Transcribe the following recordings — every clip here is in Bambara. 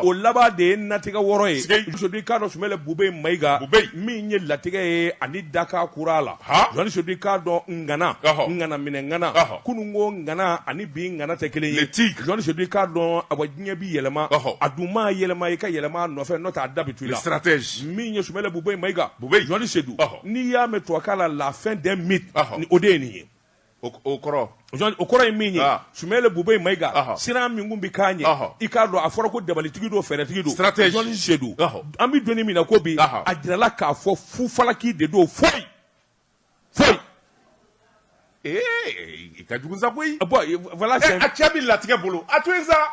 o laban de ye natigɛ wɔɔrɔ ye Jɔni Sedu i k'a dɔn Sumeyilu Bube Mayiga min ye latigɛ ye ani dakan kura la Jɔni Sedu i k'a dɔn ŋana ŋana minɛ ŋana kunun ko ŋana ani bi ŋana tɛ kelen ye Jɔni Sedu i k'a dɔn awa diɲɛ bɛ yɛlɛma a dun maa yɛlɛma i ka yɛlɛma nɔfɛ n'o t'a da b'i tu la stratège min ye Sumeyilu Bube Mayiga Jɔni Sedu n'i y'a mɛn tubabukan na la fin d'un mythe o de ye nin ye o kɔrɔ ye min ye Sumeyilu Bube Mayiga siran min kun bɛ k'a ɲɛ i k'a dɔn a fɔra ko dabalitigi don fɛɛrɛtigi don Jɔni Sedu an bɛ don min na ko bi a jirala k'a fɔ fu falaki de don foyi foyi e ka jugu sa koyi voilà a cɛ bɛ latigɛ bolo a to sa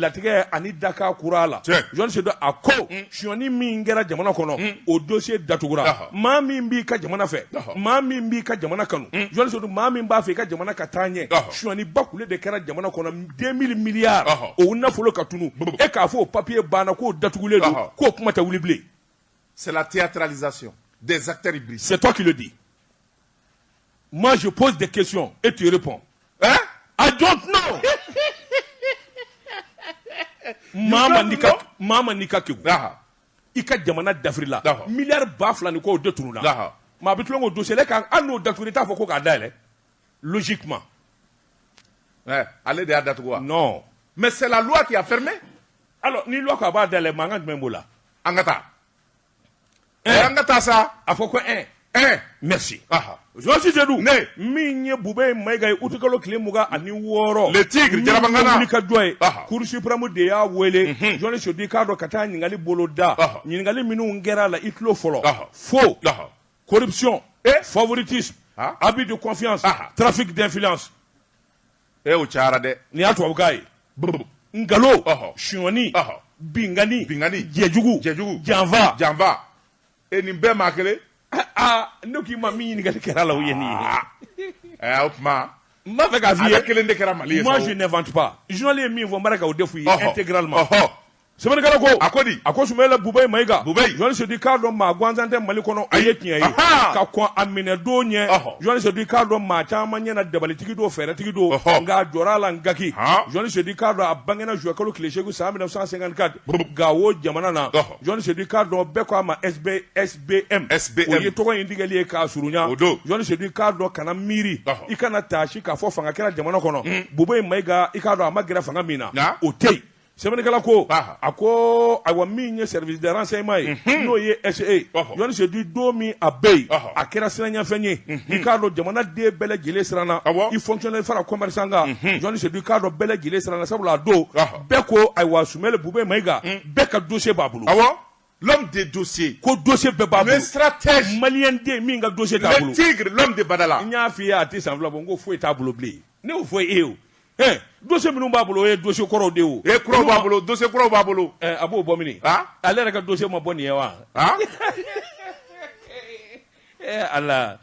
latigɛ ani dakan kura la Jɔni Sedu a ko sonyani min kɛra jamana kɔnɔ o dossier datugura maa min b'i ka jamana fɛ maa min b'i ka jamana kanu Jɔni Sedu maa min b'a fɛ i ka jamana ka taa ɲɛ sonyani bakule de kɛra jamana kɔnɔ deux mille milliards o nafolo ka tunun e k'a fɔ o papiye banna k'o datugulen don k'o kuma tɛ wuli bilen c'est la théâtralisation des acteurs hybrides c'est toi qui le dis Moi, je pose des questions et tu réponds. Hein? I don't know. Mama n'i ka kegun. I ka jamana dafirila. Milliard ba fila ni kɔ de tununna. Maa bɛ tulon k'o dossier la kan hali n'o datugura i t'a fɔ ko k'a dayɛlɛ. Logiquement. Eh, ale de y'a datugu wa? Non. Mais c'est la loi qui a fermé. Alors ni loi ko a b'a dayɛlɛ mankan jumɛn b'o la? An ka taa. an ka taa sa a fɔ ko ɛ ɛ merci Jɔni Sedu min ye Bube Mayiga ye utikalo tile mugan ani wɔɔrɔ le tigre jaraba ŋana min ka jɔ ye Cour suprême de y'a wele Jɔni Sedu i k'a dɔn ka taa ɲininkali bolo da ɲininkali minnu kɛra a la i tulo fɔlɔ faux corruption favoritisme abus de confiance trafic d'influence e o cayara dɛ nin y'a tubabukan ye nkalo sonyani binkanni binkanni jɛjugu jɛjugu janfa janfa e nin bɛɛ maa kelen aa ne k'i ma min ɲininkali kɛra la o ye nin ye ɛ o tuma n b'a fɛ k'a f'i ye kelen de kɛra mali ye moi je n'invente pas journal ye min fɔ n bɛ k'o de f'u ye intégralement Sɛbɛnnikɛla ko, a ko di? A ko Sumeyilu Bubey Mayiga, Bubey, Jɔni Sedu i k'a dɔn maa gansan tɛ Mali kɔnɔ, o ye tiɲɛ ye, ahaa, ka kɔn a minɛ don ɲɛ, ɔhɔ, Jɔni Sedu i k'a dɔn maa caman ɲɛ na dabalitigi don, fɛɛrɛtigi don, ɔhɔ, nka a jɔra a la n gaki, han, Jɔni Sedu i k'a dɔn a bangena juin kalo tile seegin san 1954, burup, Gawo jamana na, ɔhɔ, Jɔni Sedu i k'a dɔn bɛɛ ko a ma SB, SBM, SBM, o ye tɔgɔ in tigɛli ye k'a surunya, o don, Jɔni Sedu i k'a dɔn kana miiri, ɔhɔ, i kana taasi k'a fɔ fanga kɛra jamana kɔnɔ, un, Bubey Mayiga i k'a dɔn a ma gɛrɛ fanga min na, nka, o tɛ yen. sɛbɛnnikɛla ko a ko ayiwa min ye service de renseignement ye mhm. n'o ye SE journaliste Seydou don min a bɛ yen a kɛra siranɲɛfɛn ye mhm. i k'a dɔn jamana den bɛɛ lajɛlen siranna i fonctionnaire fara commerçant kan mhm. journaliste Seydou i k'a dɔn bɛɛ lajɛlen siranna sabula a don bɛɛ ko ayiwa Sumɛli Bube Mayiga bɛɛ ka dossier b'a bolo. l'homme des dossiers ko dossier bɛɛ b'a bolo le stratège malien den min ka dossier t'a bolo le tigre l'homme de Badala n y'a f'i ye a tɛ san fila bɔ n ko foyi t'a bolo bilen ne y'o fɔ e ye o ɛɛ dossier minnu b'a bolo o ye dossier kɔrɔw de ye o e kuraw b'a bolo dossier kuraw b'a bolo ɛɛ a b'o bɔ mini ale yɛrɛ ka dossier ma bɔ nin ye wa ɛɛ ala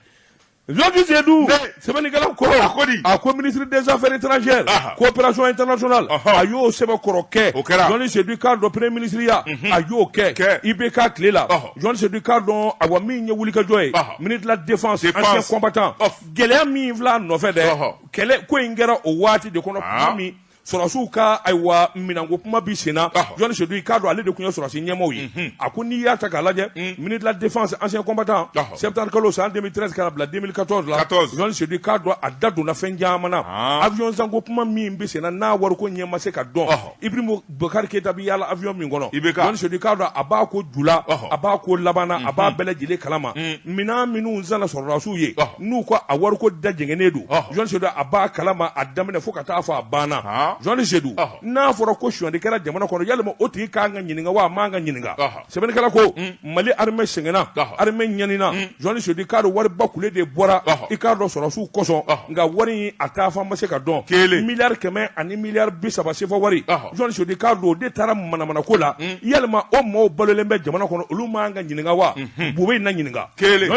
Jɔfisidu sɛbɛnnikɛlaw ko a ko a ko minisiri dɛsɛfɛ tjɛ kopererasɔn tsola a y'o sɛbɛn kɔrɔ kɛ o kɛra dɔn sedu kan dɔ pere minisiriya a y'o kɛ kɛ i bɛ ka tilela jɔn sedu kan dɔn a wa min ye wulikajɔ ye mini dilanfa sen kɔnba tan gɛlɛya min fila nɔfɛ dɛ kɛlɛ ko in kɛra o waati de kɔnɔ min sɔrɔsiw ka ayiwa minanko kuma bi senna journaliste Seydou i k'a dɔn ale de tun ye sɔrɔsi ɲɛmaaw ye mhm. a ko n'i y'a ta k'a lajɛ mhm. ministre de la défense ancien combattant septembre kalo san 2013 ka na bila 2014 la journaliste Seydou i k'a dɔn a da donna fɛn caman na ah. avion zanko kuma min bi senna n'a wariko ɲɛ ma se ka dɔn ibrahim bubakari keyita bi yaala avion min kɔnɔ journaliste Seydou i k'a dɔn a b'a ko ju la a b'a ko laban na a b'a mhm. bɛɛ lajɛlen kalama minɛn minnu zana sɔrɔdasiw ye n'u ko a wariko da jɛngɛnnen don journaliste Seydou a b'a kalama a daminɛ fo ka taa fo a ban na journaliste Seydou n'a fɔra ko sonyali kɛra jamana kɔnɔ yalima o tigi kan ka ɲininka wa a man ka ɲininka sɛbɛnnikɛla ko mali armée sɛgɛnna armée ɲanina journaliste Seydou i k'a dɔn wariba kulu de bɔra i k'a dɔn sɔrɔsiw kosɔn nka wari in a taa fan ma se ka dɔn kelen miliyari kɛmɛ ani miliyari bi saba sefa wari sodi k'a don de taara manamana ko la ya o maaw balolen bɛ jamana kɔnɔ olu ma ka ɲininka wa bu bɛ na ɲininka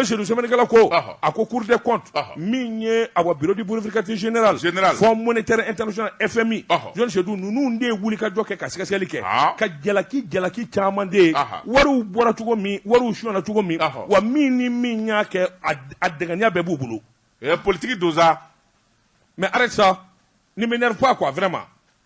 sodinikɛla ko a ko kuruur kɔn min ye a bidi burukati z fɔ mɔnɔni tɛ e taarari e fɛn min jɔnsedu ninnu de ye wuli ka jɔ kɛ ka sɛgɛsɛli kɛ ka jalaki jalaki caman de wari bɔra cogo min wari su cogo min wa min ni min y'a kɛ a dya bɛɛ b'u bolo politigi donsosa mɛ alisa ni bɛ fɔ a ko a fɛ ma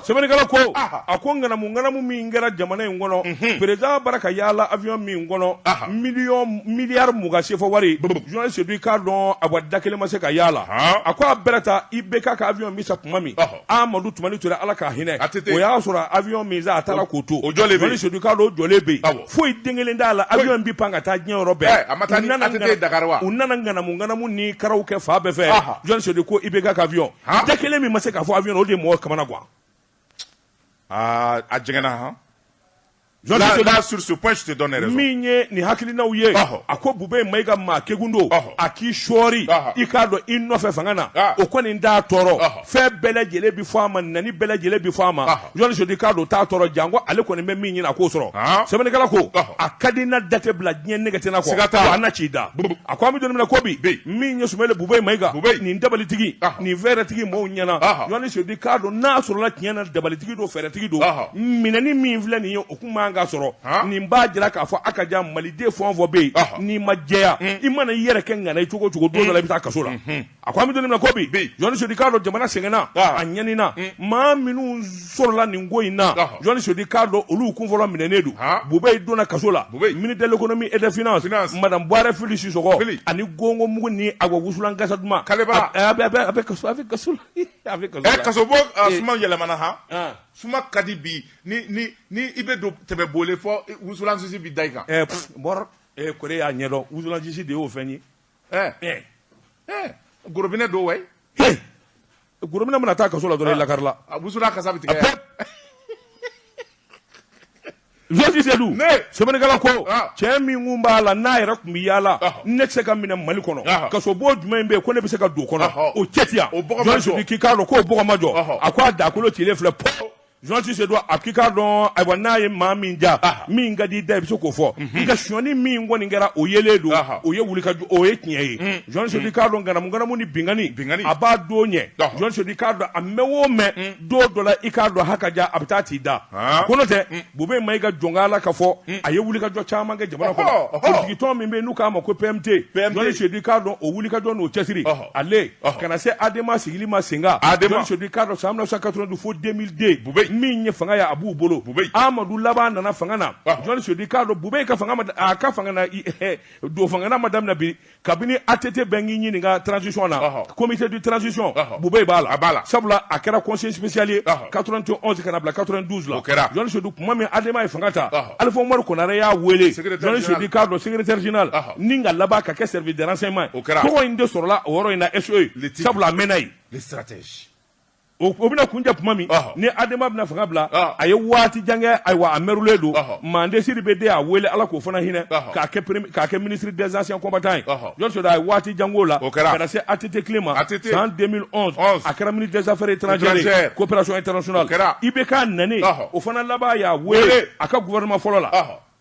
sɛbɛnnikɛla ko a ko ŋanamu ŋanamu min kɛra jamana in kɔnɔ mhm. président bara ka yaala avion min kɔnɔ miliyari mugan sefa wari journaliste Seydou i k'a dɔn awa da kelen ma se ka yaala a ko a bɛrɛ ta IBK ka avion min san tuma min amadu tumani ture ala k'a hinɛ o y'a sɔrɔ avion min san a taara k'o to journaliste Seydou i k'a dɔn o jɔlen bɛ yen foyi den kelen t'a la avion bi pan ka taa diɲɛ yɔrɔ bɛɛ eh, u nana ŋanamu ŋanamu ni karaw kɛ fan bɛɛ fɛ journaliste Seydou ko IBK ka avion da kelen min ma se ka fɔ avion o de ye mɔgɔ kamanagan aa a jɛngɛnna han Là, là, sur ce point, je te donne raison. min ye nin hakilinaw ye Ɔhɔ. a ko bube mayiga maa kegun don Ɔhɔ. a k'i sɔɔri Ɔhɔ. i k'a dɔn i nɔfɛ fanga na Ah. o kɔni t'a tɔɔrɔ Ɔhɔ. fɛn bɛɛ lajɛlen bi fɔ a ma nɛni bɛɛ lajɛlen bi fɔ a ma Ɔhɔ. journaliste Seydou k'a dɔn t'a tɔɔrɔ janko ale kɔni bɛ min ɲini a k'o sɔrɔ sɛbɛnnikɛla ko a ka di na date bila diɲɛ negetina kɔ siga t'a la ci da a ko an bɛ don min na ko bi min ye Sumeyilu Bubey Mayiga nin dabalitigi nin fɛɛrɛtigi maaw ɲɛna journaliste Seydou k'a dɔn n'a sɔrɔla tiɲɛ na dabalitigi don fɛɛrɛtigi don minɛni min filɛ nin ye o kun man ka sɔrɔ nin b'a jira k'a fɔ a ka jan maliden fɛn o fɛn bɛ yen n'i ma jɛya i mana i yɛrɛ kɛ ŋana i cogo o cogo don dɔ la i bɛ taa kaso la A ko an bɛ don min na ko bi, bi, journaliste Seydou k'a dɔn jamana sɛgɛnna, ɔhɔ, a ɲanina, un, maa minnu sɔrɔla nin ko in na, ɔhɔ, journaliste Seydou k'a dɔn olu kun fɔlɔ minɛnen don, han, Bubey donna kaso la, Bubey, ministre de l'économie et des finances, finance, madame Buwarɛ Fili Sisɔkɔ, Fili, ani gongo mugu ni a ka wusulan kasa duman, Kalebaa, a bɛ a bɛ a bɛ kaso a bɛ kaso la, hi, a bɛ kaso la, ɛ kasobon ɔ suma yɛlɛmana han, an, suma ka di bi ni ni ni i bɛ don tɛmɛ Bole fɔ wusulan sisi bɛ da i kan, ɛ pff, bɔrɔ, ee Kɔre y'a ɲɛdɔn wusulan sisi de y'o fɛn ye eh eh eh gorobinɛ don wai hey gorobinɛ mana taa kaso la dɔrɔn i ah. lakarila a wusulan kasa bɛ tigɛ journaliste Seydou sɛbɛnnikɛla ko ah. cɛ min kun b'a la n'a yɛrɛ tun bɛ yaala ah. ne tɛ se ka minɛ Mali kɔnɔ ah. kasobon jumɛn bɛ yen ko ne bɛ se ka don o kɔnɔ o cɛ ti yan journaliste Seydou k'i k'a dɔn k'o bɔgɔ ma jɔ a ko a dakolo cilen filɛ pɔ Journaliste Seydou a k'i k'a dɔn ayiwa n'a ye maa min diya min ka di da i bɛ se k'o fɔ nka sonyani min kɔni kɛra o yelen don o ye wuli o ye tiɲɛ ye journaliste Seydou k'a dɔn ŋanamu ni binkanni binkanni a b'a don ɲɛ journaliste Seydou k'a dɔn a mɛɛn o mɛɛn don dɔ la i k'a dɔn ha ka ja a bɛ taa t'i da ko n'o tɛ Bubey Mayiga jɔn la ka fɔ a ye wulikajɔ caman kɛ jamana kɔnɔ politikitɔn min bɛ yen n'u k'a ma ko PMT journaliste Seydou k'a dɔn o wulikajɔ n'o cɛsiri ale kana se ha adamama sigilen ma sen ha adama sodi k'a dɔn sa amina sa ka dun fo denmisɛnninden bu min ye fanga ye a b'u bolo bu amadu laban nana fanga na jɔnni sodi k'a dɔn bu ka a ka fanga don fangana ma daminɛ bi kabini a tɛ tɛ bɛn k'i ɲini ka tsisi na komidi tsisi bu b'a la a b'a la sabula a kɛra kɔsesiyali ye ka t tɛ kana bila ka dusu la o kɛra jɔnni sudu tuma min adamama ye fanga ta alifa amaduri kɔnɛ y'a weele k'a dɔn sɛgɛrɛtina la ni ka laban ka kɛ service de renseignement ye, o kɛra, tɔgɔ in de sɔrɔla o yɔrɔ in na SE, le tigre, sabula a mɛnna yen, le stratège o o bɛna kuncɛ tuma min, ɔhɔ, ni Adema bɛna fanga bila, ɔhɔ, a ye waati jan kɛ, ayiwa a mɛrulen don, ɔhɔ, Mande Sidibe de y'a wele Ala k'o fana hinɛ, ɔhɔ, k'a kɛ premier k'a kɛ ministre des anciens combattants ye, ɔhɔ, journaliste Seydou a ye waati jan k'o la, o kɛra, ka na se ATT tile ma, ATT, san 2011, 11, a kɛra ministre des affaires étrangères ye, coopération internationale, o kɛra, IBK nanen, ɔhɔ, o fana laban y'a wele, wele, a ka gouvernement fɔlɔ la, ɔhɔ.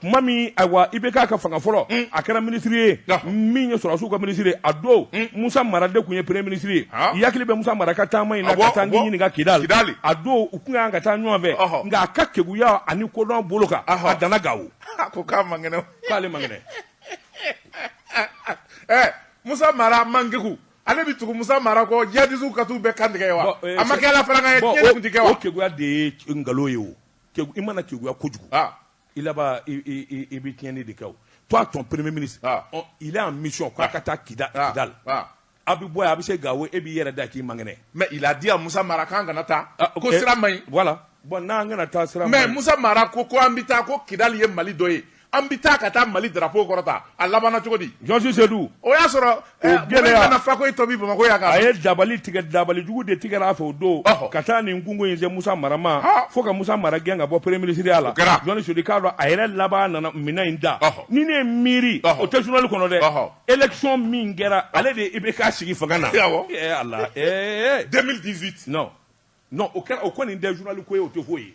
tuma min ayiwa IBK ka fanga fɔlɔ mm. a kɛra minisiri ye min ye sɔrɔdasiw ka minisiri ye a don mm. musa mara de tun ye premier minisiri ye i hakili bɛ musa mara ka taama in na ka taa n ɲininka kidali a don u tun ka kan ka taa ɲɔgɔn fɛ nka a ka keguya ani kodɔn bolo kan a danna gawo a ko k'a man kɛnɛ k'ale man kɛnɛ eh, musa mara man kegu ale bɛ tugu musa mara kɔ jihadisiw ka t'u bɛɛ kan tigɛ yen wa eh, a ma kɛ ala fana ka ye diɲɛ tun tɛ kɛ wa o keguya de ye nkalon ye o i mana keguya kojugu ah. i laban i bɛ tiɲɛni de kɛ o toi ton premier ministre il est en mission k'a ka taa kidali a bɛ bɔ yan a bɛ se gawo e b'i yɛrɛ da k'i man kɛnɛ mais il a dit à musa mara k'an kana taa ko sira man ɲi voilà bon n'an kana taa sira mais musa mara ko ko an bɛ taa ko kidali ye mali dɔ ye an bɛ taa ka taa mali drapeau kɔrɔta a labanna cogo di jɔnsisedu o y'a sɔrɔ a ye dabali tigɛ dabali jugu de tigɛra a fɛ o don ka taa nin kungo in se musa mara ma fo ka musa mara gɛn ka bɔ premier minisiriya la jɔnni sudi k'a dɔn a yɛrɛ laban nana minɛn in da ni ne ye miiri o tɛ journal kɔnɔ dɛ élection min kɛra ale de IBK sigi fanga na o kɛra o kɔni nin dɛli ko ye o tɛ foyi ye